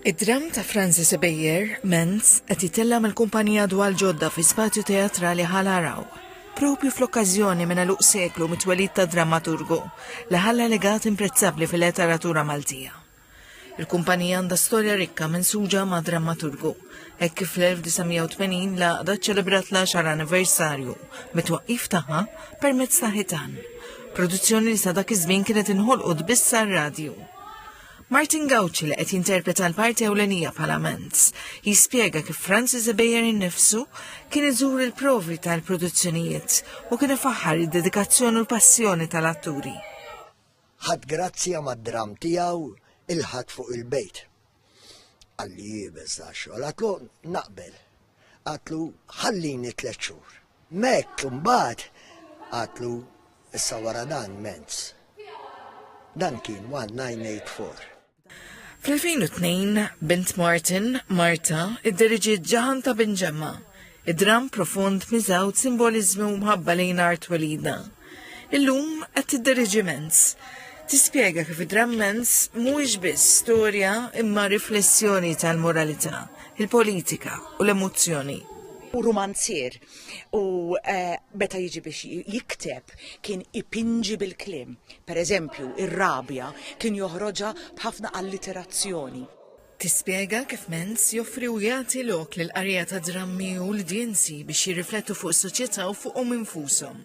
Id-dramm ta' Francis Ebejer, Menz, qed jitella' mill-kumpanija Dwal Ġodda fi Spazju Teatrali Ħal Araw, propju fl-okkażjoni minn għeluq seklu mit-twelid ta' drammaturgu li ħalla legat imprezzabbli fil-leteratura Maltija. Il-kumpanija għandha storja rikka mensuġa ma' drammaturgu, hekk kif fl-1980 l-għaqda ċċelebrat l-għaxar anniversarju mit-twaqqif tagħha permezz ta' Ħitan, produzzjoni li sa dak iż-żmien kienet inħolqot biss għar-radju. Martin Gauci li qed jinterpreta l-parti ewlenija bħala Mans, jispjega kif Francis Ebejer innifsu kien iżur il-provi tal-produzzjonijiet u kien ifaħħar id-dedikazzjoni u l-passjoni tal-atturi. Ħadd grazzja mad-dramm tiegħu il-ħadd fuq il-bejt. Qalli jibes da xogħol, għatlu naqbel. Għatlu ħallini tliet xhur. Mec imbagħad qatlu issa wara dan Mentz. Dan kien 1984. Fl-2002, bint Martin, Marta, idderiġiet Ġaħan ta' Bin Ġemma, id-dramm profond miżgħud simboliżmi u mħabba lejn art Welida. Illum qed tidderieġi Mens. Tispjega kif id-dramm Mens mhuwiex biss storja imma riflessjoni tal-moralità, il-politika u l-emozzjoni u rumanzier u eh, meta jiġi biex jikteb kien ipinġi bil-klim. Per eżempju, ir-rabja kien joħroġa b'ħafna alliterazzjoni. Tispjega kif Menz joffri u jagħti lok lill-qarrejja ta' drammi u l-udjenzi biex jirriflettu fuq is-soċjetà u fuqhom infushom.